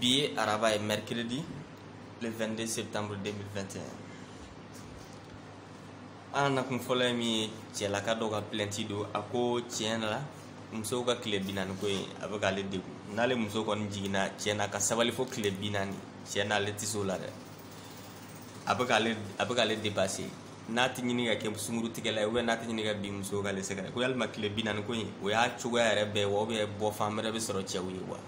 bi ye araba ye mercredi le 22 septembre 2021 an nakun fɔlɔ ye min ye cɛlaka dɔ ka plainte don a ko tiɲɛ la musow ka tile bi naani ko in a bɛ k'ale degun n'ale muso kɔni jiginna tiɲɛ na ka sabali fo tile bi naani tiɲɛ na ale tɛ se o la dɛ a bɛ k'ale a bɛ k'ale dépasser n'a tɛ ɲini ka kɛ sungurutigɛla ye ou bien n'a tɛ ɲini ka bin muso k'ale sɛgɛrɛ ko yalima tile bi naani ko in o y'a cogoya yɛrɛ bɛɛ wa ou bien bɔ fan wɛrɛ bɛ sɔrɔ cɛw ye wa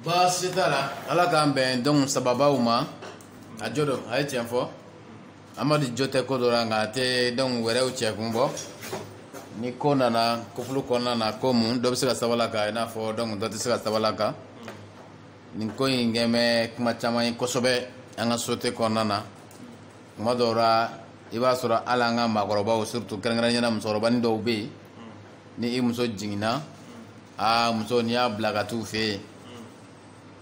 baasi t'a la ala k'an bɛn donc sababaw ma a jo don a ye tiɲɛ fɔ amadu jo tɛ ko dɔ la nka a tɛ donc wɛrɛw cɛ kun bɔ ni ko nana couple kɔnɔna na ko mun dɔ bɛ se ka sabali a kan i n'a fɔ donc dɔ tɛ se ka sabali a kan nin ko in kɛ bɛ kuma caman ye kosɛbɛ an ka société kɔnɔna na tuma dɔw la i b'a sɔrɔ hali an ka maakɔrɔbaw surtout kɛrɛnkɛrɛnya na musokɔrɔbani dɔw bɛ yen ni i muso jiginna aa muso n'i y'a bila ka t'u fɛ yen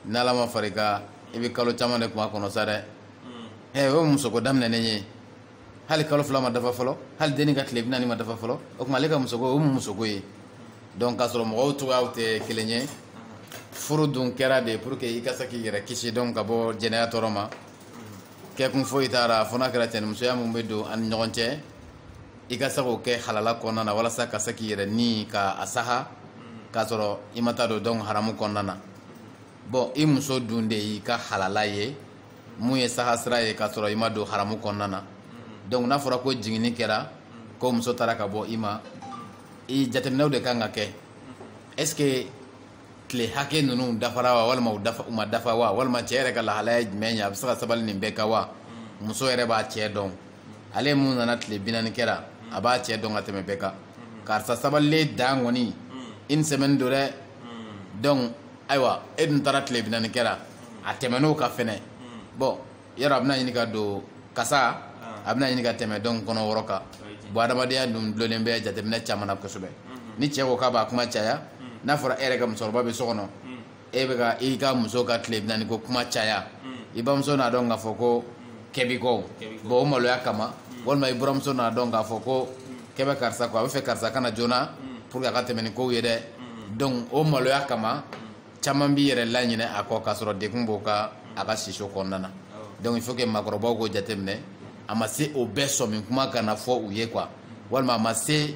n'ala ma far'i kan i bɛ kalo caman de k'u makɔnɔ sa dɛ ɛ o ye musoko daminɛnen ye hali kalo fila ma dafa fɔlɔ hali denni ka tile bi naani ma dafa fɔlɔ o tuma ale ka musoko o mun musoko ye donc k'a sɔrɔ mɔgɔw cogoyaw tɛ kelen ye furu dun kɛra de pour que i ka se k'i yɛrɛ kisi donc ka bɔ jɛnɛya tɔɔrɔ ma kɛkun foyi t'a la fo n'a kɛra cɛnimusoya min bɛ don an ni ɲɔgɔn cɛ i ka se k'o kɛ halala kɔnɔna na walasa ka se k'i yɛrɛ ni ka a saha k'a sɔrɔ i ma taa don donc haramu kɔnɔna na bon i muso dun de y'i ka halala ye mun ye saha sira ye k'a sɔrɔ i ma don haramu kɔnɔna na donc n'a fɔra ko jiginni kɛra ko muso taara ka bɔ i ma i jateminɛw de kan ka kɛ est ce que tile hakɛ ninnu dafara wa walima u ma dafa wa walima cɛ yɛrɛ ka lahalaya ye jumɛn ye a bɛ se ka sabali nin bɛɛ kan wa muso yɛrɛ b'a cɛ dɔn ale mun nana tile bi naani kɛra a b'a cɛ dɔn ka tɛmɛ bɛɛ kan karisa sabalilen dan kɔni une semaine don dɛ donc ayiwa e dun taara tile binani kɛra a tɛmɛn'o kan fɛnɛ bon yɔrɔ a bɛna ɲini ka don kasa a bɛna ɲini ka tɛmɛ donc kalo wɔɔrɔ kan bon adamadenya dun dulonnen bɛ jateminɛ caman na kosɛbɛ ni cɛ ko k'a b'a kuma caya n'a fɔra e yɛrɛ ka musokɔrɔba bɛ so kɔnɔ e bɛ ka i ka muso ka tile binani ko kuma caya i bamuso n'a dɔn k'a fɔ ko kɛ b'i kɔ bon o maloya kama walima i buramuso n'a dɔn k'a fɔ ko kɛ bɛ karisa kɔ a b'a fɛ karisa ka na joona pour que a ka tɛmɛ ni kow ye dɛ donc o maloya kama caman b'i yɛrɛ laɲinɛ a kɔ k'a sɔrɔ degun b'o kan a ka siso kɔnɔna na donc il faut que maakɔrɔbaw k'o jateminɛ a ma se o bɛɛ sɔmi kuma kana fɔ u ye quoi walima a ma se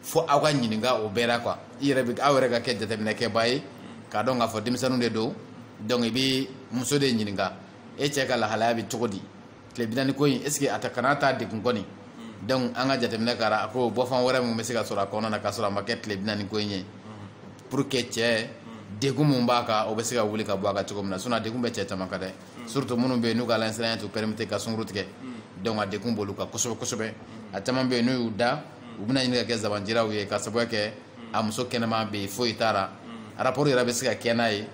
fo aw ka ɲininka o bɛɛ la quoi i yɛrɛ bɛ aw yɛrɛ ka kɛ jateminɛkɛba ye k'a dɔn k'a fɔ denmisɛnninw de don donc i bɛ muso de ɲininka e cɛ ka lahalaya bɛ cogo di tile bi naani ko in est ce que a ta kana taa degun kɔni hmm. donc an ka jateminɛ kɛra a ko bɔfan wɛrɛ min bɛ se ka sɔrɔ a kɔnɔna na ka sɔrɔ a ma kɛ tile bi naani ko in ye hmm. pour que cɛ hmm. degun mun b'a kan o bɛ se ka wuli ka bɔ a kan cogo min na sinon a degun bɛ cɛ caman kan dɛ surtout minnu bɛ yen n'u ka alasiranɲɛ t'u permettre ka sunkuru tigɛ donc a degun b'olu kan kosɛbɛ kosɛbɛ a caman bɛ yen n'u y'u da u bɛna ɲini ka kɛ zabanjiraw ye ka sababuya kɛ a muso kɛnɛma bɛ yen foyi t'a la rapport yɛrɛ bɛ se ka kɛ n'a ye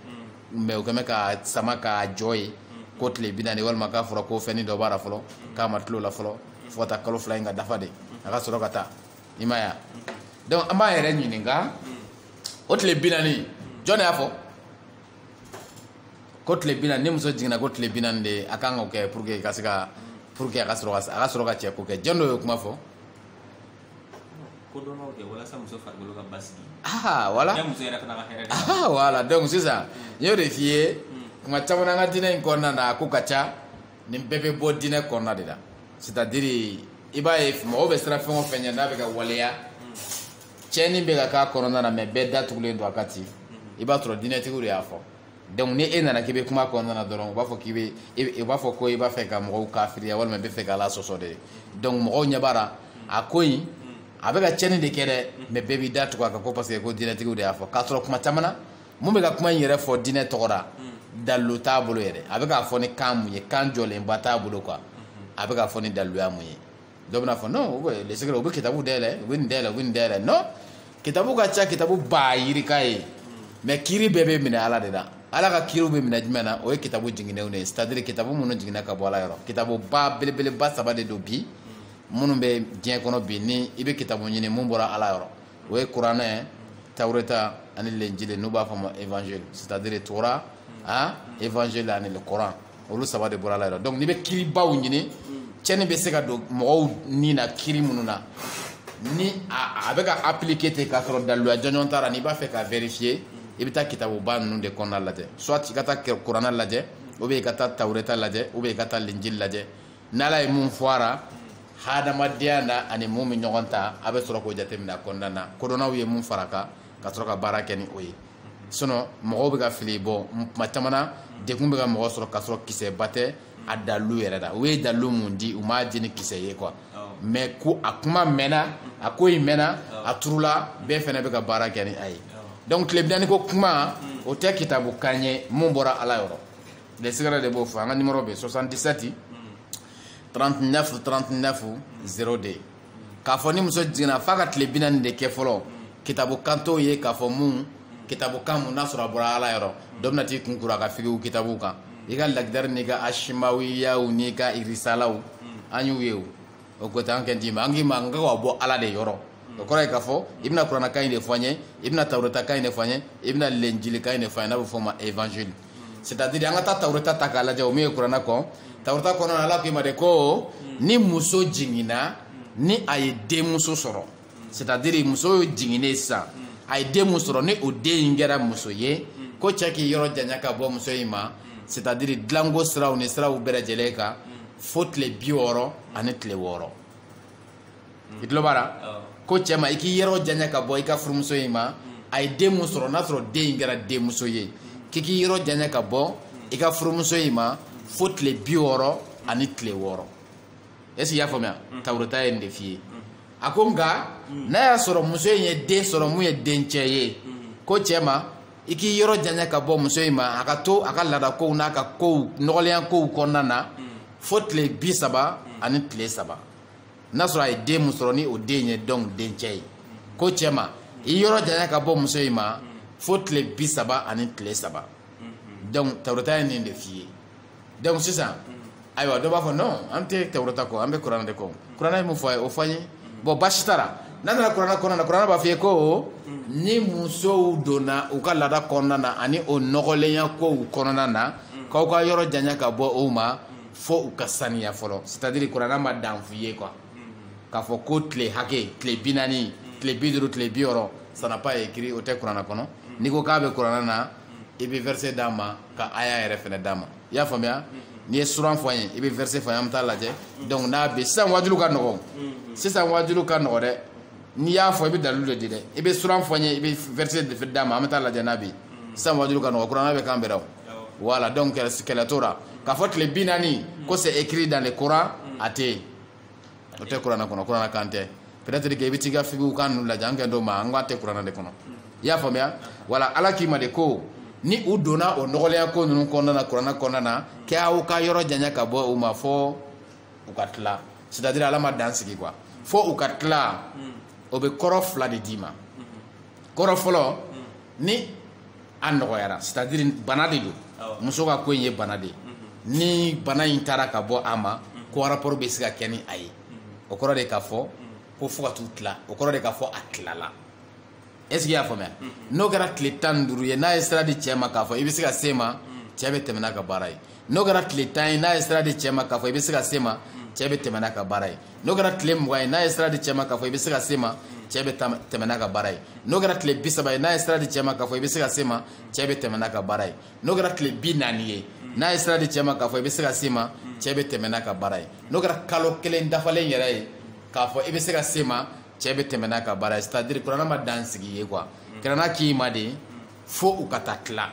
mais o kɛmɛ ka sama k'a jɔ ye ko tile bi naani walima k'a fɔra ko fɛnnin dɔ b'a la fɔlɔ k'a ma tulo la fɔlɔ fo ka taa kalo fila in ka dafa de a ka sɔrɔ ka taa i m'a ye donc an b'an yɛrɛ ɲininka o tile bi naani jɔn de y'a fɔ ko tile bi naani ni muso jiginna ko tile bi naani de a kan k'o kɛ pour que ka se ka pour que a ka sɔrɔ ka a ka sɔrɔ ka cɛ ko kɛ jɔn de y'o kuma fɔ voilà donc sisan n y'o de f'i ye kuma caman an ka diinɛ in kɔnɔna na a ko ka ca nin bɛɛ bɛ bɔ diinɛ kɔnɔna de la c'est à dire i b'a ye mɔgɔw bɛ siran fɛn o fɛn ɲɛ n'a bɛ ka waleya tiɲɛni bɛ ka k'a kɔnɔna na mais bɛɛ da tugulen don a kan ten i b'a sɔrɔ diinɛtigiw de y'a fɔ donc ni e nana k'i bɛ kuma kɔnɔna na dɔrɔn u b'a fɔ k'i bɛ u b'a fɔ ko i b'a fɛ ka mɔgɔw kafiriya walima i b'a fɛ ka ala sɔsɔ de donc mɔgɔw ɲɛ b'a la a ko in a bɛ ka tiɲɛni de kɛ dɛ mais bɛɛ b'i da tugu a kan ko parce que ko diinɛtigiw de y'a fɔ k'a sɔrɔ kuma caman na mun bɛ ka kuma in yɛrɛ fɔ diinɛ tɔgɔ la dalilu t'a bolo yɛrɛ a bɛ k'a fɔ ni kan mun ye kan jɔlenba t'a bolo quoi a bɛ k'a fɔ ni daliluya mun ye dɔ bɛna fɔ non les secrets u bɛ kitabu dayɛlɛ u bɛ nin dayɛlɛ u bɛ nin dayɛlɛ non kitabu ka ca kitabu ba yirika ye mais kiri bɛɛ bɛ minɛ ala de la ala ka kiriw bɛ minɛ jumɛn na o ye kitabu jiginnenw de ye c'est à dire kitabu minnu jiginna ka bɔ ala yɔrɔ kitabu ba belebeleba saba de don bi minnu bɛ diɲɛ kɔnɔ bi ni i bɛ kitabu ɲini mun bɔra ala yɔrɔ o ye kuranɛ tawureta ani lenjili n'u b'a fɔ ma évangile c'est à dire tora han évangile ani le coran olu saba de bɔra ala yɔrɔ donc n'i bɛ kiribaw ɲini tiɲɛni bɛ se ka don mɔgɔw ni na kiri minnu na ni a bɛ ka appliquer ten k'a sɔrɔ daliluya jɔnjɔn t'a la n'i b'a fɛ ka vérifier i bɛ taa kitabuba ninnu de kɔnɔna lajɛ soit i ka taa kuranɛ lajɛ ou bien i ka taa tawureta lajɛ ou bien i ka taa lenjili lajɛ n'ala ye mun fɔ a la hadamadenya na ani mun bɛ ɲɔgɔn ta a bɛ sɔrɔ k'o jateminɛ a kɔnɔna na kodɔnnaw ye mun fara a kan ka sɔrɔ ka baara kɛ ni o ye sinon mɔgɔw bɛ ka fili bɔ tuma caman na degun bɛ ka mɔgɔ sɔrɔ k'a sɔrɔ kisɛba tɛ a dalilu yɛrɛ la u ye dalilu mun di u m'a di ni kisɛ ye quoi mais ko a kuma mɛnna a ko in mɛnna a turula bɛɛ fana bɛ ka baara kɛ ni a ye donc tile binani ko kuma o tɛ kitabu kan ye mun bɔra ala yɔrɔ les secrets de b'o fɔ an ka numéro bɛ 77 39 39 02 k'a fɔ ni muso jiginna f'a ka tile bi naani de kɛ fɔlɔ kitabu kan t'o ye k'a fɔ mun kitabu kan mun n'a sɔrɔ a bɔra ala yɔrɔ dɔ bɛna t'i kun kuru a ka figiw kitabu kan i ka lagidari n'i ka asimawiyaw n'i ka irisalaw an y'u ye o o ko an kɛ d'i ma an k'i ma an ka k'a bɔ ala de yɔrɔ o kɔrɔ ye k'a fɔ i bɛna kuranakan in de fɔ an ye i bɛna tawuratakan in de fɔ an ye i bɛna lenjilikan in de fɔ an ye n'a bɛ fɔ o ma évangile c'est à dire an ka taa tawureta ta k'a lajɛ o min ye kurana kɔn tawureta kɔnɔna ala k'i ma de ko ni muso jiginna ni a ye denmuso sɔrɔ c'est à dire muso jiginnen sisan a ye den mun sɔrɔ ni o den in kɛra muso ye ko cɛ k'i yɔrɔ janya ka bɔ muso in ma c'est à dire dilanko siraw ni siraw bɛɛ lajɛlen kan fo tile bi wɔɔrɔ ani tile wɔɔrɔ i tulo b'a la ko cɛ ma i k'i yɔrɔ janya ka bɔ i ka furumuso in ma a ye den mun sɔrɔ n'a sɔrɔ den in kɛra denmuso ye k'i k'i yɔrɔ janya ka bɔ i ka furumuso in ma fo tile bi wɔɔrɔ ani tile wɔɔrɔ est-ce que i y'a faamuya tawureta ye nin de f'i ye a ko nka n'a y'a sɔrɔ muso in ye den sɔrɔ mun ye dencɛ ye ko cɛ ma i k'i yɔrɔ janya ka bɔ muso in ma a ka to a ka laadakow n'a ka kow nɔgɔlenya kow kɔnɔna na fo tile bi saba ani tile saba n'a sɔrɔ a ye den mun sɔrɔ ni o den ye donc dencɛ ye ko cɛ ma i yɔrɔ janya ka bɔ muso in ma fo tile bi saba ani tile saba donc tawureta ye nin de f'i ye donc sisan ayiwa dɔ b'a fɔ non an tɛ tawureta kɔ an bɛ kuranɛ de kɔ kuranɛ ye mun fɔ a ye o fɔ an ye bon baasi t'a la n'an nana kuranɛ kɔnɔna na kuranɛ b'a fɔ i ye ko ni musow donna u ka laada kɔnɔna na ani o nɔgɔlenya kow kɔnɔna na k'aw ka yɔrɔ janya ka bɔ u ma fo u ka saniya fɔlɔ c'est à dire kuranɛ ma dan f'i ye quoi k'a fɔ ko tile hakɛ tile bi naani tile bi duuru tile bi wɔɔrɔ ça n'a pas écrit o tɛ kuranɛ kɔnɔ n'i ko k'a bɛ kuranɛ na i bɛ verset d'an ma ka aya yɛrɛ fɛnɛ d'an ma i y'a faamuya n'i ye suran fɔ an ye i bɛ verset fɔ an ye an bɛ t'a lajɛ donc n'a bɛ sisan waajuliw ka nɔgɔn sisan waajuliw ka nɔgɔn dɛ n'i y'a fɔ i bɛ dalilu de di dɛ i bɛ suran fɔ an ye i bɛ verset d'an ma an bɛ t'a lajɛ n'a bɛ sisan waajuliw ka nɔgɔn kuranɛ bɛ kan bɛɛ la voilà donc kɛlɛ t'o la k'a fɔ tile bi naani ko c'est écrit dans le coran a tɛ yen o tɛ kuranɛ kɔnɔ kuranɛ kan tɛ peut-être que i bɛ t'i ka figiw kan ninnu lajɛ an kɛ dɔw ma nk'a tɛ kuranɛ de kɔnɔ i y'a faamuya voilà ala k'i ma de ko ni u donna o nɔgɔlenya ko ninnu kɔnɔna na kuranɛ kɔnɔna na kɛ aw ka yɔrɔ janya ka bɔ u ma fo u ka tila c'est à dire ala ma dan sigi quoi fo u ka tila o bɛ kɔrɔ fila de d'i ma kɔrɔ fɔlɔ ni a nɔgɔyara c'est-à-dire bana de don muso ka ko in ye bana de ye mhm. ni bana in taara ka bɔ a ma mhm. ko rapport bɛ se ka kɛ ni a ye mhm. o kɔrɔ de k'a fɔ ko fo ka t'u tila o kɔrɔ de k'a fɔ a tilala est-ce que i y'a faamuya n'o kɛra tile tan ni duuru ye n'a ye sira di cɛ ma k'a fɔ i bɛ se ka se ma cɛ bɛ tɛmɛ n'a ka baara ye n'o kɛra tile tan ye n'a ye sira di cɛ ma k'a fɔ i bɛ se ka se ma cɛ bɛ tɛmɛ n'a ka baara ye n'o kɛra tile mugan ye n'a ye sira di cɛ ma k'a fɔ i bɛ se ka se ma cɛ bɛ tɛmɛ n'a ka baara ye n'o kɛra tile bi saba ye n'a ye sira di cɛ ma k'a fɔ i bɛ se ka se ma cɛ bɛ tɛmɛ n'a ka baara ye n'o kɛra tile bi naani ye n'a ye sira di cɛ ma k'a fɔ i bɛ se ka se ma cɛ bɛ tɛmɛ n'a ka baara ye n'o kɛra kalo kelen dafalen yɛrɛ ye k'a fɔ i bɛ se ka se ma cɛ bɛ tɛmɛ n'a ka baara ye c'est à dire kuranɛ ma dan sigi ye quoi kuranɛ k'i ma de fo u ka taa tila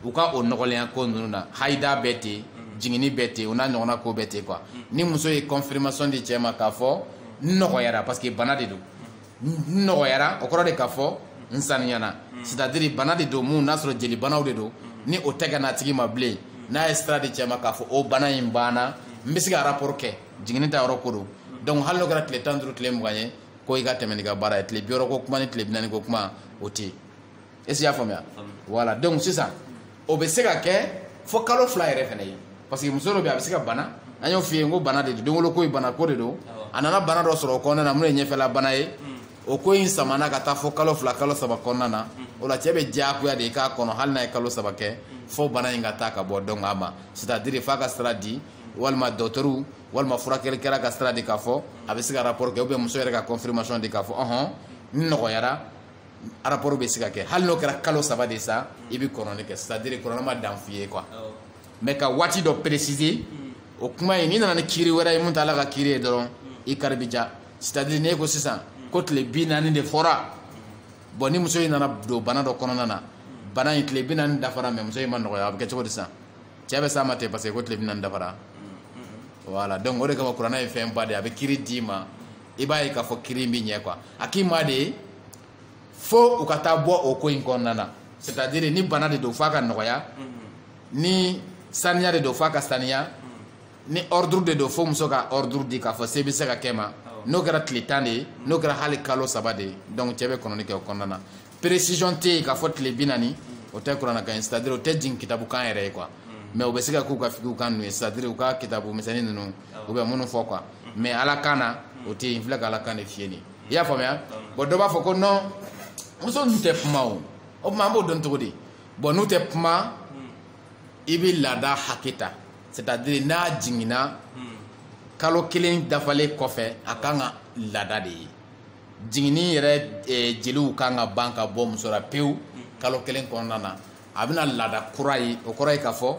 u ka o nɔgɔlenya ko ninnu na hayida bɛ ten jiginni bɛ ten o n'a ɲɔgɔnna ko bɛ ten quoi ni muso ye confirmation di cɛ ma k'a fɔ n nɔgɔyara parce que bana de don n nɔgɔyara o kɔrɔ de k'a fɔ n saniyana c'est à dire bana de don mun n'a sɔrɔ jelibanaw de don ni o tɛ ka n'a tigi ma bilen n'a ye sira di cɛ ma k'a fɔ o bana in banna n bɛ se ka rapport kɛ jiginni ta yɔrɔ ko don donc hali n'o kɛra tile tan ni duuru tile mugan ye ko i ka tɛmɛ n'i ka baara ye tile bi wɔɔrɔ ko kuma ni tile bi naani ko kuma o tɛ yen est ce que i y'a faamuya voilà donc sisan o bɛ se ka kɛ fo kalo fila yɛrɛ fana ye parce que muso dɔ bɛ a bɛ se ka bana an y'o f'i ye n ko bana de don denwolo ko ye bana ko de don a nana bana dɔ sɔrɔ o kɔnɔna na mun ye ɲɛfɛla bana ye o ko in samana ka taa fo kalo fila kalo saba kɔnɔna na o la cɛ bɛ diyagoya de k'a kɔnɔ hali n'a ye kalo saba kɛ fo bana in ka taa ka bɔ donc a ma c'est à dire f'a ka sira di walima dɔgɔtɔrɔw walima furakɛlikɛla ka sira di k'a fɔ a bɛ se ka rapport kɛ ou bien muso yɛrɛ ka confirmation di k'a fɔ ɔhɔn n nɔgɔyara rapport bɛ se ka kɛ hali n'o kɛra kalo saba de sa i bɛ kɔnɔni kɛ c'est à dire kuranɛ ma dan f'i ye quoi mais ka waati dɔ préciser hmm. o kuma in n'i nana ni kiiri wɛrɛ ye mun t'ala ka kiiri ye dɔrɔn i kari bɛ ja c'est à dire n'e ko sisan hmm. ko tile bi naani de fɔra bon ni muso in nana don bana dɔ kɔnɔna na bana in tile bi naani dafara mais muso in ma nɔgɔya a bɛ kɛ cogo di sisan cɛ bɛ s'a ma ten parce que ko tile bi naani dafara voilà donc o de kama kuranɛ ye fɛn ba de ye a bɛ kiiri d'i ma i b'a ye k'a fɔ kiiri in bɛ ɲɛ quoi a k'i ma de fo u ka taa bɔ o ko in kɔnɔna na c'est à dire ni bana de don f'a ka nɔgɔya ni saniya de don f'a ka saniya ni ordre de don fo muso ka ordre di k'a fɔ se bɛ se ka kɛ ma n'o kɛra tile tan de ye n'o kɛra hali kalo saba de ye donc cɛ bɛ kɔnɔni kɛ o kɔnɔna na précision tɛ yen k'a fɔ tile bi naani o tɛ kuranɛkan ye c'est à dire o tɛ jigin kitabukan yɛrɛ ye quoi mais o bɛ se ka k'u ka fikiw kan ninnu ye c'est à dire u ka kitabu misɛnnin ninnu u bɛ minnu fɔ quoi mais ala kan na o tɛ yen n filɛ ka ala kan de f'i ye nin i y'a faamuya bon dɔ b'a fɔ ko non muso ninnu tɛ kuma o tuma an b'o dɔn cogo di bon n'u tɛ kuma i bɛ laada hakɛ ta c'est à dire n'a jiginna kalo kelen dafalen kɔfɛ a kan ka laada de ye jiginni yɛrɛ eh, jeliw kan ka ban ka bɔ muso la pewu kalo kelen kɔnɔna na a bɛna laada kura ye o kɔrɔ ye k'a fɔ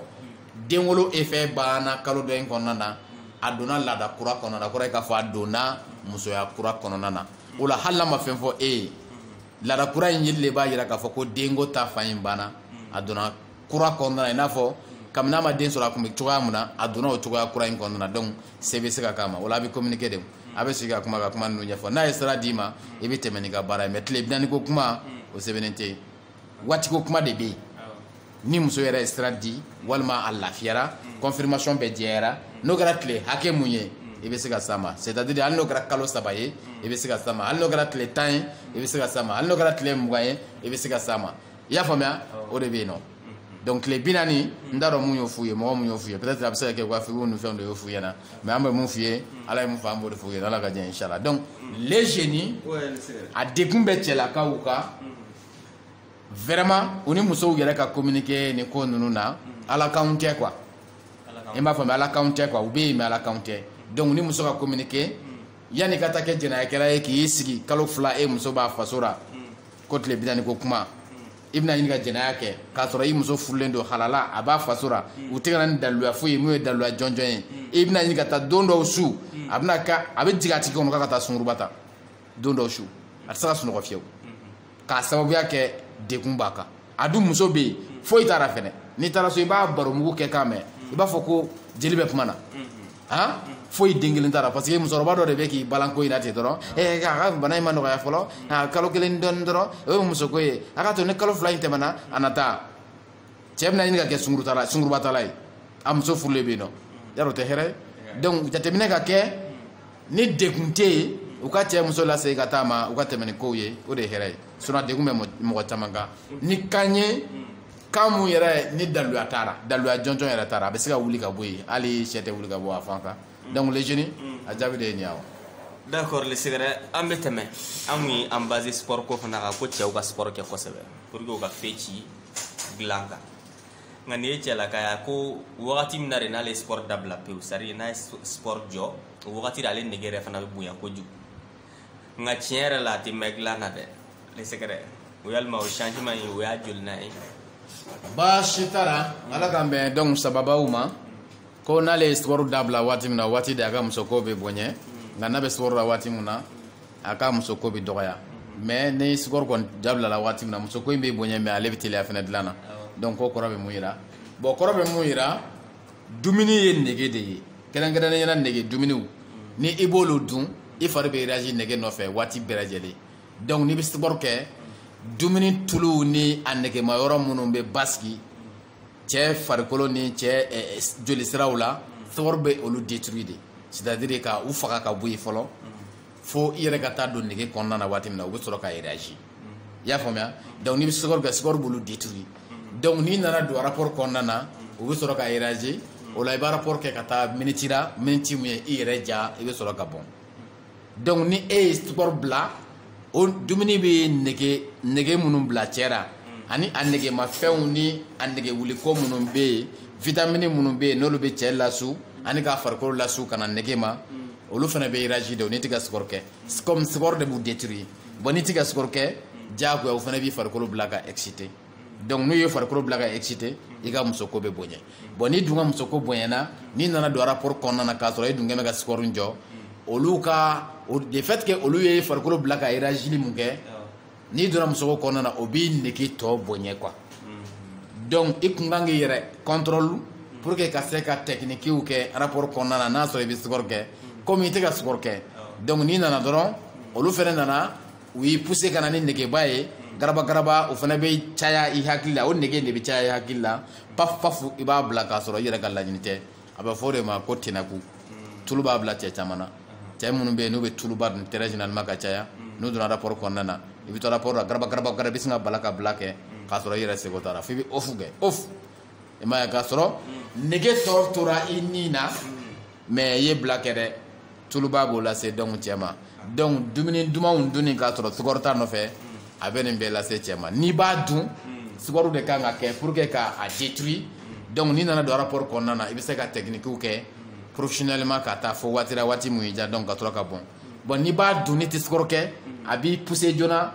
denwolo effet banna kalo dɔ in kɔnɔna na a donna laada kura kɔnɔna na o kɔrɔ ye k'a fɔ a donna musoya kura kɔnɔna na o la hali n'a ma fɛn fɔ e ye laada kura in yeli de b'a jira k'a fɔ ko denko ta fan in banna a donna kura kɔnɔna na i n'a fɔ kabini a ma den sɔrɔ a tun bɛ cogoya min na a donna o cogoya kura in kɔnɔna na donc cɛ bɛ se ka s'a ma o la a bɛ communiquer de a bɛ sigi ka kuma ka kuma ninnu ɲɛfɔ n'a ye sira d'i ma i bɛ tɛmɛ n'i ka baara ye mais tile bi naani ko kuma o sɛbɛnnen tɛ yen waatiko kuma de bɛ yen ni muso yɛrɛ ye sira di walima a lafiyara confirmation bɛɛ jɛyara n'o kɛra tile hakɛ mun ye i bɛ se ka s'a ma c'est à dire hali n'o kɛra kalo saba ye i bɛ se ka s'a ma hali n'o kɛra tile tan ye i bɛ se ka s'a ma hali n'o kɛra tile mugan ye i bɛ se ka s'a ma i y'a faamuya o de bɛ yen nɔ donc tile bi naani n t'a dɔn mun y'o f'u ye mɔgɔ mun y'o f'u ye peut être a bɛ se ka kɛ u ka fikiw ni fɛnw de y'o f'u ɲɛna mais an bɛ mun f'u ye ala ye mun fɔ an b'o de f'u ye ala ka diɲɛ inshallah donc les jeunes a degun bɛ cɛlakaw kan vraiment u ni musow yɛrɛ ka communiquer nin ko ninnu na ala kanw tɛ quoi i m'a faamuya ala kanw tɛ quoi u bɛ yen mais ala kanw tɛ donc ni muso ka communiquer yanni ka taa kɛ jɛnɛyakɛla ye k'i sigi kalo fila e muso b'a faso la ko tile bi naani ko kuma i bɛna ɲini ka jɛnɛya kɛ k'a sɔrɔ i muso furulen don halala a b'a faso la u tɛ ka na ni daluya foyi ye mun ye daluya jɔnjɔn ye i bɛna ɲini ka taa don dɔw su a bɛna ka a bɛ jigin a tigi kɔnɔ k'a ka taa sunguruba ta don dɔw su a tɛ se ka sunɔgɔ fiyewu k'a sababuya kɛ degun b'a kan a dun muso bɛ yen foyi t'a la fɛnɛ n'i taara so i b'a baromugu kɛ k'a mɛn i b'a fɔ ko jeli bɛ kuma na han foyi den kelen t'a la parce que musokɔrɔba dɔ de bɛ k'i balan ko in na ten dɔrɔn ɛɛ a ka bana in ma nɔgɔya fɔlɔ a kalo kelen dɔɔni dɔrɔn o ye musoko ye a k'a to ni kalo fila in tɛmɛna a na taa cɛ bɛna ɲini ka kɛ sungurutala sungurubatala ye a muso furulen bɛ yen nɔ yarɔ o tɛ hɛrɛ ye donc jateminɛ ka kɛ ni degun tɛ yen u ka cɛ muso lase ka taa ma u ka tɛmɛ ni kow ye o de ye hɛrɛ ye sinon a degun bɛ mɔgɔ caman kan ni kan ye kan mun yɛrɛ ni daluya t'a la daluya jɔnjɔn yɛrɛ t'a la a bɛ se ka wuli ka bɔ yen hali sɛ tɛ wuli ka bɔ a fan kan donc le jeune a jaabi de ye nin ye awa d'accord le secret an bɛ tɛmɛ an tun ye an basé sport ko fana kan ko cɛw ka sport kɛ kosɛbɛ pour que u ka fɛn ci dilan kan nka nin ye cɛlaka ye ko wagati min na de n'ale sport dabila pewu c'est à dire n'a ye sport jɔ o wagati de ale nege yɛrɛ fana bɛ bonya kojugu nka tiɲɛ yɛrɛ la a tɛ mɛn dilan na dɛ le secret o yɛlɛma o changement ye o y'a joli na ye baasi t'a la ala k'an bɛn donc sababaw ma ko n'ale ye sport dabila waati min na waati de a ka musoko bɛ bonya nka n'a bɛ sport la waati min na a ka musoko bɛ dɔgɔya mais ni sport kɔni dabilala waati min na musoko in bɛ bonya mais ale bɛ teliya fana dilan na donc ko kɔrɔ bɛ mun yira bon kɔrɔ bɛ mun yira dumuni ye nege de ye kɛrɛnkɛrɛnnenya la nege dumuniw ni i b'olu dun i fari bɛ réagir nege nɔfɛ waati bɛɛ lajɛlen donc n'i bɛ sport kɛ dumuni tuluw ni a negema yɔrɔ minnu bɛ basigi cɛ farikolo ni cɛ eh, eh, jolisiraw la sport bɛ olu détruire de c'est à dire ka u faga ka bɔ yen fɔlɔ. fo i yɛrɛ ka taa don nege kɔnɔna na waati min na u bɛ sɔrɔ ka réagi i y'a faamuya donc n'i bɛ sport kɛ sport b'olu détruire donc n'i nana don rapport kɔnɔna na u bɛ sɔrɔ ka réagi o la i b'a rapport kɛ ka taa miniti la miniti min ye i yɛrɛ diya i bɛ sɔrɔ ka bɔn donc ni e ye sport bila o dumuni bɛ nege nege minnu bila cɛ la ani a negemafɛnw ni a negewuliko minnu bɛ yen vitamini minnu bɛ yen n'olu bɛ cɛ lasu ani k'a farikolo lasu ka na nege ma olu fana bɛ réagi de o n'i tɛ ka sport kɛ comme sport de b'u détruire bon n'i tɛ ka sport kɛ diyagoya o fana b'i farikolo bila ka exciter donc n'u ye farikolo bila ka exciter i ka musoko bɛ bonya bon n'i dun ka musoko bonyana n'i nana don rapport kɔnɔna na k'a sɔrɔ e dun kɛ bɛ ka sport jɔ olu ka de fait que olu ye farikolo bila ka réagili mun kɛ n'i donna musoko kɔnɔna na o b'i nege tɔ bonya quoi donc i kun kan k'i yɛrɛ contrôle pour que ka se ka techniquew kɛ rapport kɔnɔna na n'a sɔrɔ i bɛ sport kɛ komi i tɛ ka sport kɛ donc n'i nana dɔrɔn olu fana nana u y'i pousser ka na ni negeba ye garaba garaba o fana bɛ caya i hakili la o nege de bɛ caya i hakili la paf paf i b'a bila k'a sɔrɔ i yɛrɛ ka laɲini tɛ a bɛ fɔ de ma ko tɛnɛku tulu b'a bila cɛ caman na cɛ minnu bɛ yen n'u bɛ tuluba dun très généralement ka caya n'u donna rapport kɔnɔna na i bɛ to rapport la garaba garaba garaba bɛ sin ka bala ka bila kɛ k'a sɔrɔ i yɛrɛ sago t'a la f'i bɛ ofu kɛ ofu i m'a ye k'a sɔrɔ nege tɔ tora i ni na mais i ye bila kɛ dɛ tuluba b'o lase donc cɛ ma donc dumuni dumanw dunni k'a sɔrɔ sport t'a nɔfɛ a bɛ nin bɛɛ lase cɛ ma n'i b'a dun sport de kan ka kɛ pour que ka a détruire donc n'i nana don rapport kɔnɔna na i bɛ se ka techniquew kɛ professionnellement ka taa fo waati la waati mun y'i diya donc ka sɔrɔ ka bɔn bon n'i b'a dun n'i tɛ sport kɛ a b'i pousser joona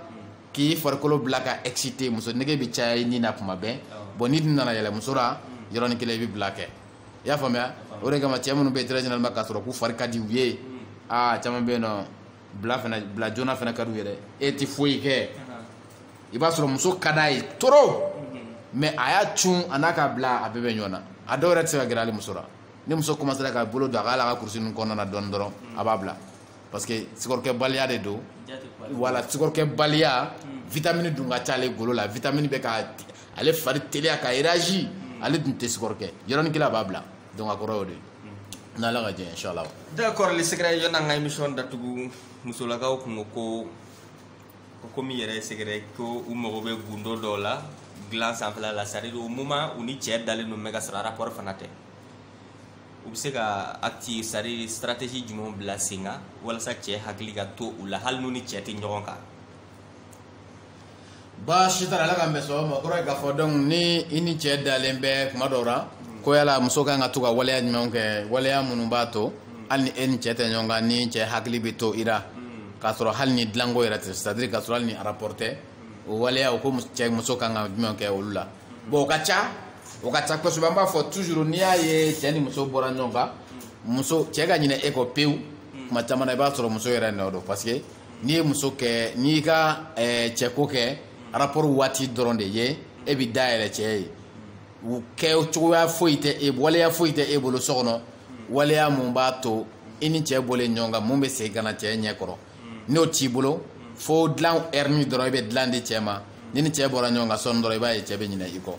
k'i farikolo bila ka exciter muso nege bɛ caya i ni na kuma bɛɛ bon n'i dun nana yɛlɛ muso la yɔrɔnin kelen i bɛ bila kɛ i y'a faamuya o de kama cɛ minnu bɛ yen très généralement k'a sɔrɔ k'u fari ka di u ye aa caman bɛ yen n'o bila joona fana ka d'u ye dɛ e tɛ foyi kɛ i b'a sɔrɔ muso ka d'a ye trop mais a y'a cun a n'a ka bila a bɛɛ bɛ ɲɔgɔn na a dɔw yɛrɛ tɛ se ka gɛrɛ hali muso la ni muso commencera ka bolo don a ka hali a ka kurusi ninnu kɔnɔna na dɔɔni dɔrɔn a b'a bila parce que sportkɛbaliya de don wala sportkɛbaliya vitamini dun ka ca ale golo la vitamini bɛ ka ale fari teliya ka réagi ale dun tɛ sport kɛ yɔrɔnin kelen a b'a bila donc a kɔrɔ y'o de ye n'ala ka jɛ inshallah d'accord le secret yanni an ka émission datugu musolakaw kun ko ko ko komi yɛrɛ secret ko u mago bɛ gundo dɔw la dilan sanfɛla la c'est à dire au moment u ni cɛɛ dalen don mais k'a sɔrɔ rapport fana tɛ u bɛ se ka acti c'est à dire stratégie jumɛnw bila sen kan walasa cɛɛ hakili ka to u la hali n'u ni cɛɛ tɛ ɲɔgɔn kan baasi t'a la ala k'an bɛn sɔgɔma ma kɔrɔ ye k'a fɔ donc ni i ni cɛ dalen bɛ kuma dɔw la ko yala muso kan ka to ka waleya jumɛnw kɛ waleya minnu b'a to hali ni e ni cɛ tɛ ɲɔgɔn kan ni cɛ hakili bɛ to i la k'a sɔrɔ hali ni dilanko yɛrɛ tɛ c'est à dire k'a sɔrɔ hali ni rapport tɛ o waleya o ko cɛ muso kan ka jumɛn kɛ olu la bon o ka ca o ka ca kosɛbɛ an b'a fɔ toujours n'i y'a ye cɛ ni muso bɔra ɲɔgɔn kan muso cɛ ka ɲinɛ e kɔ pewu kuma caman na i b'a sɔrɔ muso yɛrɛ nɔ don parce que n'i ye muso kɛ n'i y'i ka eh, cɛko kɛ rapport waati dɔrɔn de ye e bɛ da yɛlɛ cɛ ye u kɛ cogoya foyi tɛ e waleya foyi tɛ e bolo so kɔnɔ waleya mun b'a to i ni cɛ bɔlen ɲɔgɔn kan mun bɛ se ka na cɛ ɲɛ kɔrɔ n'o t'i bolo fo dilan ɛrini dɔrɔn i bɛ dilan di cɛ ma n'i ni cɛ bɔra ɲɔgɔn kan sɔɔni dɔrɔn i b'a ye cɛ bɛ ɲinɛ i kɔ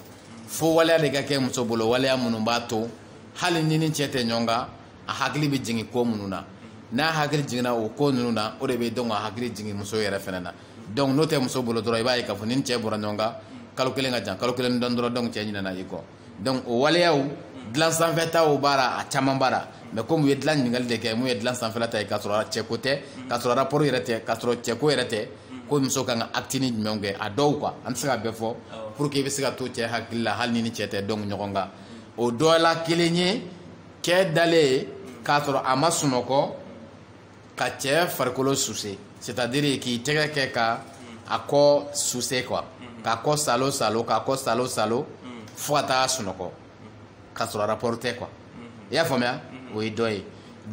fo waleya de ka kɛ muso bolo waleya minnu b'a to hali n'i ni cɛ tɛ ɲɔgɔn kan a hakili bɛ jigin ko minnu na n'a hakili jiginna o ko ninnu na o de bɛ dɔn ka hakili jigin muso yɛrɛ fana na donc n'o tɛ muso bolo dɔrɔn i b'a ye k'a fɔ n'i ni cɛ bɔra ɲɔgɔn kan kalo kelen ka jan kalo kelen don dɔrɔn donc cɛ ɲinɛna i kɔ donc o waleyaw dilan sanfɛtaw b'a la a caman b'a la mais komi u ye dilan ɲininkali de kɛ mun ye dilan sanfɛla ta ye k'a sɔrɔ cɛko tɛ k'a sɔrɔ rapport yɛrɛ tɛ k'a sɔrɔ cɛko yɛrɛ tɛ ko muso kan ka actini jumɛnw kɛ a dɔw quoi an tɛ se ka bɛɛ fɔ pour que i bɛ se ka to cɛ hakili la hali n'i ni cɛ tɛ donc ɲɔgɔn kan o dɔ la kelen ye cɛ dalen k'a sɔrɔ a ma sunɔgɔ ka cɛ farikolo suse c'est à dire k'i tɛgɛ kɛ ka a kɔ suse quoi k'a kɔ salo salo k'a kɔ salo salo fo ka taa sunɔgɔ k'a sɔrɔ rapport tɛ quoi i y'a faamuya o ye dɔ ye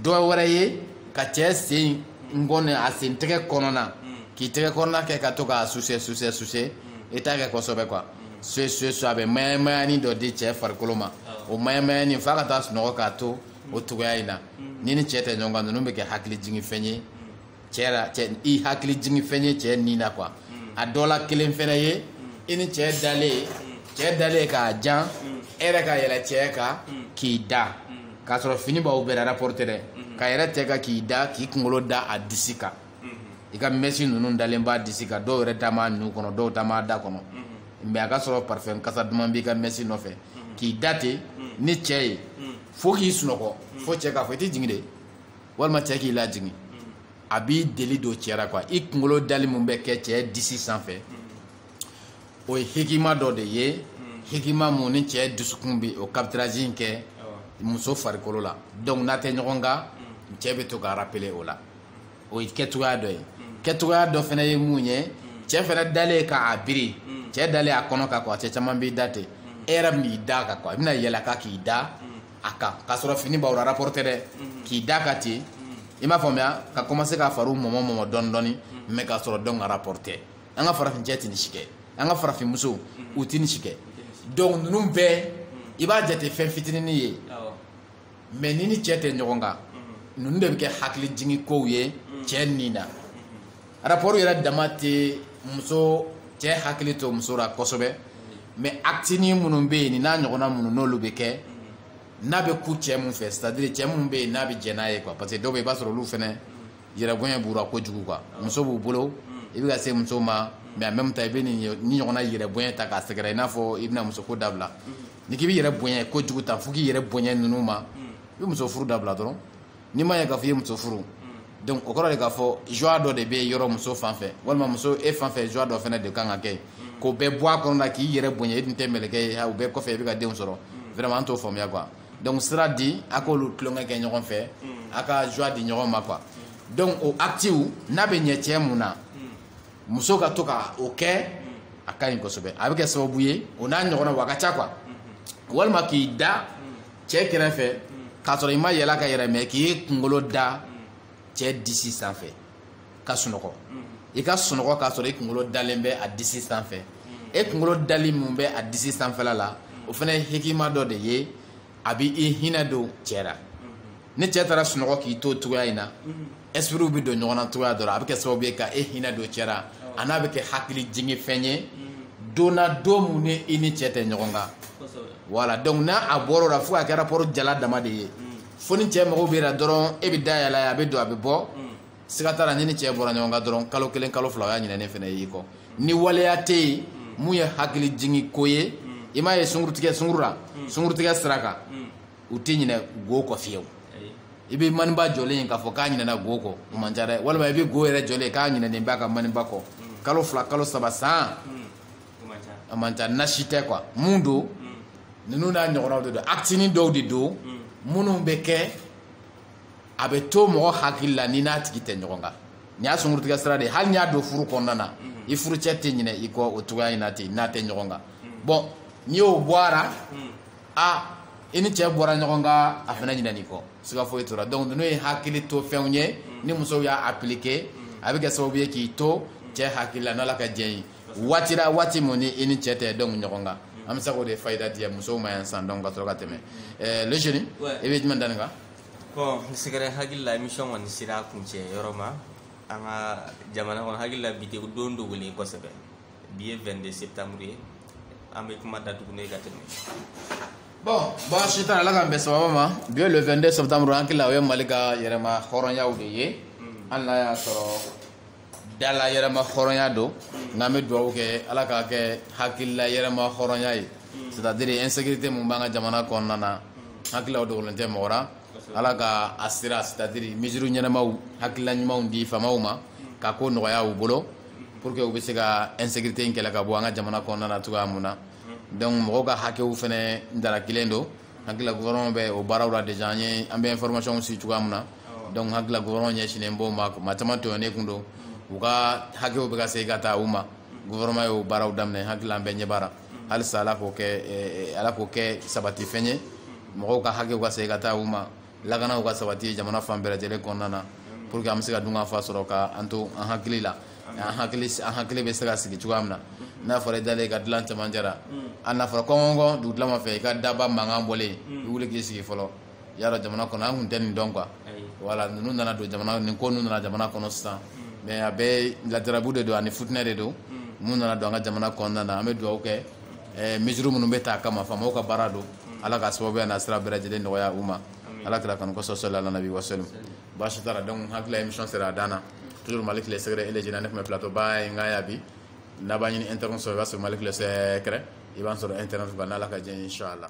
dɔ wɛrɛ ye ka cɛ sen nkɔni a sen tɛgɛ kɔnɔna k'i tɛgɛ kɔnɔna kɛ ka to k'a suse suse suse i t'a kɛ kosɛbɛ quoi soye soye so a bɛ mayamayani dɔ di cɛ farikolo ma o mayamayani f'a ka taa sunɔgɔ k'a to o cogoya in na n'i ni cɛ tɛ ɲɔgɔn kan ninnu bɛ kɛ hakili jigin fɛn ye cɛ la cɛ i hakili jigin fɛn ye cɛ nin na quoi a dɔ la kelen fɛnɛ ye i ni cɛ dalen cɛ dalen k'a jan e yɛrɛ ka yɛlɛ cɛ kan k'i da k'a sɔrɔ fini b'aw bɛɛ la rapport tɛ dɛ ka yɛlɛ cɛ kan k'i da k'i kunkolo da a disi kan i ka mɛsi ninnu dalen b'a disi kan dɔw yɛrɛ taa maa nun kɔnɔ dɔw taa maa da kɔnɔ mais a ka sɔrɔ parfum kasa duman b'i ka mɛsi nɔfɛ k'i da ten ni cɛ ye fo k'i sunɔgɔ fo cɛ k'a fɔ i tɛ jigin de walima cɛ k'i lajigin a b'i deli don cɛ la quoi i kunkolo dali min bɛ kɛ cɛ disi sanfɛ o ye hikima dɔ de ye hikima mun ni cɛ dusukun bɛ o capturage in kɛ muso farikolo la donc n'a tɛ ɲɔgɔn kan cɛ bɛ to ka rappeler o la o ye kɛcogoya dɔ ye kɛcogoya dɔ fana ye mun ye cɛ fana dalen k'a biri cɛ dalen a kɔnɔ kan quoi cɛ caman b'i da ten e yɛrɛ bɛn'i da a kan quoi i bɛna yɛlɛ a kan k'i da a kan k'a sɔrɔ fini b'aw la rapport tɛ dɛ k'i da a kan ten i m'a faamuya ka commencer k'a fariw mɔmɔ mɔmɔ dɔɔni dɔɔni mais k'a sɔrɔ donc a rapport tɛ an ka farafin cɛ tɛ nin si kɛ an ka farafin musow u tɛ nin si kɛ donc ninnu bɛɛ i b'a jate fɛn fitinin ye mais n'i ni cɛ tɛ ɲɔgɔn kan ninnu de bɛ kɛ hakili jigin kow ye cɛ nin na rapport yɛrɛ dama tɛ muso cɛ hakili to muso la kosɛbɛ mais actini minnu bɛ yen nin n'a ɲɔgɔnna minnu n'olu bɛ kɛ n'a bɛ kun cɛ min fɛ c'est à dire cɛ min bɛ yen n'a bɛ jɛn n'a ye quoi parce que dɔw bɛ yen i b'a sɔrɔ olu fana yɛrɛbonya b'u la kojugu quoi muso b'u bolo i bɛ ka se muso ma mais en même temps i bɛ nin ɲɔgɔnna yɛrɛbonya ta k'a sɛgɛrɛ i n'a fɔ i bɛna musoko dabila n'i k'i b'i yɛrɛ bonya kojugu ta fo k'i yɛrɛ bonya ninnu ma i bɛ muso furu dabila dɔrɔn n'i man'a ye k'a fɔ i ye muso furu donc o kɔrɔ de k'a fɔ joie dɔ de bɛ yɔrɔ muso fan fɛ walima muso e fan fɛ joie dɔ fana de kan ka kɛ yen k'o bɛɛ bɔ a kɔnɔ la k'i yɛrɛ bonya i tun tɛ mɛlɛkɛ ye o bɛɛ kɔfɛ i bɛ ka denw sɔrɔ vraiment an t'o faamuya quoi donc sira di a k'olu tulonkɛ kɛ ɲɔgɔn fɛ a ka joie di ɲɔgɔn ma quoi donc o acte n'a bɛ ɲɛ cɛ mun na muso ka to ka o kɛ a ka ɲi kosɛbɛ a bɛ kɛ sababu ye o n'a ɲɔgɔnnaw a ka ca quoi walima k'i da cɛ kɛrɛfɛ k'a sɔrɔ i ma yɛlɛ a kan yɛrɛ mais k'i kunkolo da cɛ disi sanfɛ ka sunɔgɔ i ka sunɔgɔ k'a sɔrɔ i kunkolo dalen bɛ a disi sanfɛ e kunkolo dali min bɛ a disi sanfɛla la o fana ye hikima dɔ de ye a bɛ i hinɛ don cɛ la ni cɛ taara sunɔgɔ k'i to cogoya in na esprit bɛ don ɲɔgɔn na cogoya dɔ la a bɛ kɛ sababu ye ka e hinɛ don cɛ la an'a bɛ kɛ hakili jigin fɛn ye don na don min ni i ni cɛ tɛ ɲɔgɔn kan voilà donc n'a a bɔra o la fo a kɛra rapport jalan dama de ye fo ni cɛ mago b'e la dɔrɔn e bɛ da yɛlɛ a bɛ don a bɛ bɔ siga t'a la n'i ni cɛ bɔra ɲɔgɔn kan dɔrɔn kalo kelen kalo fila o y'a ɲinɛnen fana y'i kɔ ni waleya tɛ yen mun ye hakili jigin ko ye i m'a ye sunkurutigɛ sunkuru la sunkurutigɛ sira kan u tɛ ɲinɛ go kɔ fiyewu i bɛ maniba jɔlen ye k'a fɔ k'a ɲinɛna go kɔ o man ca dɛ walima i bɛ go yɛrɛ jɔlen ye k'a ɲinɛnen b'a ka maniba kɔ mm. kalo fila kalo saba san mm. a man ca nasi tɛ quoi mun don mm. ninnu n'a ɲɔgɔnnaw de don actini dɔw de don minnu bɛ kɛ a bɛ to mɔgɔ hakili la n'i n'a tigi tɛ ɲɔgɔn kan nin y'a sunkurutigɛ sira de ye hali n'i y'a don furu kɔnɔna na i furucɛ tɛ ɲinɛ i kɔ o cogoya in na ten n'a tɛ ɲɔgɔn kan bon n'i y'o bɔ a la a i ni cɛ bɔra ɲɔgɔn kan a fana ɲinɛn'i kɔ siga foyi t'o la donc ninnu ye hakili to fɛnw ye ni musow y'a appliquer a bɛ kɛ sababu ye k'i to cɛ hakili la n'ala ka diɲɛ ye waati la waati mun ni i ni cɛ tɛ don ɲɔgɔn kan an bɛ se k'o de fayida di musow ma yan san donc ka sɔrɔ ka tɛmɛ eh, le jeune i bɛ jumɛn da nin kan bon secret hakili la émission kɔni sera a kuncɛ yɔrɔ ma an ka jamana kɔnɔ hakili la bi tɛ don dogolen kosɛbɛ bi ye 22 septembre ye an bɛ kuma datugu n'o ye ka tɛmɛ bon baasi t'a la ala k'an bɛn sababa ma bi ye le 22 septembre an hakili la o ye mali ka yɛrɛma hɔrɔnyaw de ye hali n'a y'a sɔrɔ dala yɛrɛma hɔrɔnya don nka an bɛ dugawu kɛ ala k'a kɛ hakilila yɛrɛma hɔrɔnya ye c'est à dire insécurité mun b'an ka jamana kɔnɔna na hakilila o dogolen tɛ mɔgɔ la ala ka a sira c'est à dire mesure ɲɛnamaw hakilila ɲumanw di faamaw ma ka ko nɔgɔya u bolo pour que u bɛ se ka insécurité in kɛlɛ ka bɔ an ka jamana kɔnɔna na cogoya mun na donc mɔgɔw ka hakɛw fɛnɛ dara kelen don hakilila gouvernement bɛ o baaraw la déjà an ye an bɛ information si cogoya mun na donc hakilila gouvernement ɲɛsinnen b'o ma maa caman tɔɲɔnnen kun don u ka hakɛw bɛ ka segin ka taa u ma gouvernement y'o baaraw daminɛ hakilila an bɛɛ ɲɛ b'a la halisa ala k'o kɛ ala k'o kɛ sabatifɛn ye mɔgɔw ka hakɛw ka segin ka taa u ma lakanaw ka sabati jamana fan bɛɛ lajɛlen kɔnɔna na pour que an bɛ se ka dunkafa sɔrɔ ka an to an hakili la an hakili an hakili bɛ se ka sigi cogoya min na n'a fɔra i dalen ka dilan cɛmancɛ la hali n'a fɔra kɔnkɔnkɔn dugutilama fɛ i ka daba mankan bɔlen i wuli k'i sigi fɔlɔ y'a dɔn jamana kɔnɔ an kun tɛ nin dɔn quoi voilà ninnu nana don jamana nin ko ninnu nana jamana kɔnɔ sisan mais a bɛɛ ladarabu de don ani futinɛ de don mun nana don an ka jamana kɔnɔna na an bɛ dugawu kɛ eh, mesure minnu bɛ ta a kama faamaw ka baara don ala ka sababuya n'a sira bɛɛ lajɛlen nɔgɔya u ma ala kira kanu kosɔn sɔli ala nabi wasalim baasi t'a la donc hakili la émission sera a dan na toujours malik le secret et le jeune ne tun bɛ plateau ba ye n ka ya bi n'a b'a ɲini internet sɔrɔ i b'a sɔrɔ malik le secret i b'an sɔrɔ internet kan n'ala ka diɲɛ ye inchallah